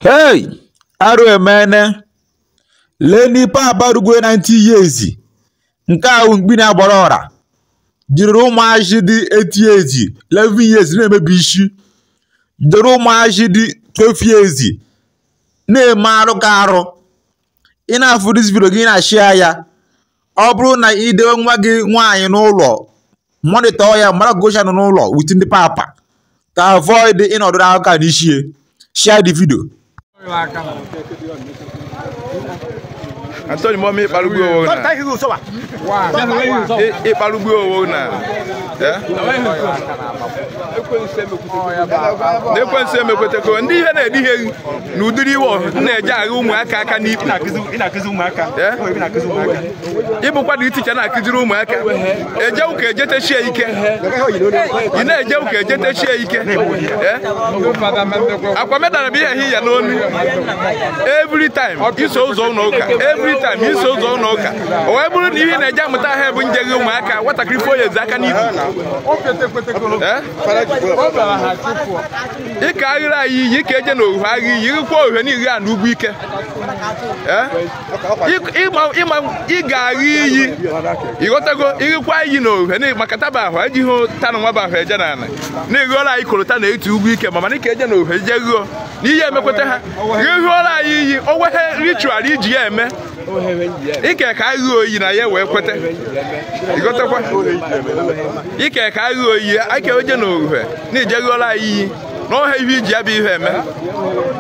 hey arụ emene leenị papa rugwe 90 years nke ahụ mkpi na-agbara ọra jiriri ụmụazị dị 8 years 11 years na-emebi isi jiri ụmụazị dị 12 years na-eme arụ ka arụ ị na-afụ this video gị na-ashare ya ọ bụrụ na ị dewe nwa gị nwaanyị n'ụlọ monitor ya mara gocha nọ n'ụlọ with ndị papa ka avoid ịnọdụ aka n'ishie share the video Anthony Momi Iparugbu Owo na. Iparugbu Owo na. N'ekwensu emekweteko ndị ihe na-edi ihe na ụdịrị iwe m na-eji agha ụmụaka aka n'ikpu ị bụkwanụ teacher na-akụziri ụmụaka eje ụka ejetechie ike ị na-eje ụka ejetechie ike akwa medara bụ ihe hi ya n'onu every time iso ụzọ ụlọ ụka every time iso ụzọ ụlọ ụka o wee bụrụ na ihe na-eje amụta ha bụ nje gị ụmụaka nwatakịrị fo ya ezi aka n'ihu ike aghịrị anyị iyi ike eje na ohe agha iyi ịkwa ohe na iri a na ugwu ike Eh? Ịk- ịma- ịma- ị ga-agha iyi ị ghọtago ịghịkwa iyi na ohe na maka taba ahụ ejighị tanụ nwa bụ ahụ eje n'ala na ịghọrọ anyị kolota na etu ugwu ike ma mana ike eje na ohe je ghụọ na ihe emekweta ha ịghọrọ anyị iyi o nweghị ritual e ji ya eme ike ka agha iyi na ya wee kweta ị ghọtakwa ike ka agha iyi aka eje na ohe na ijeghola anyị iyi na ọha ihe e ji ya bụ ihe eme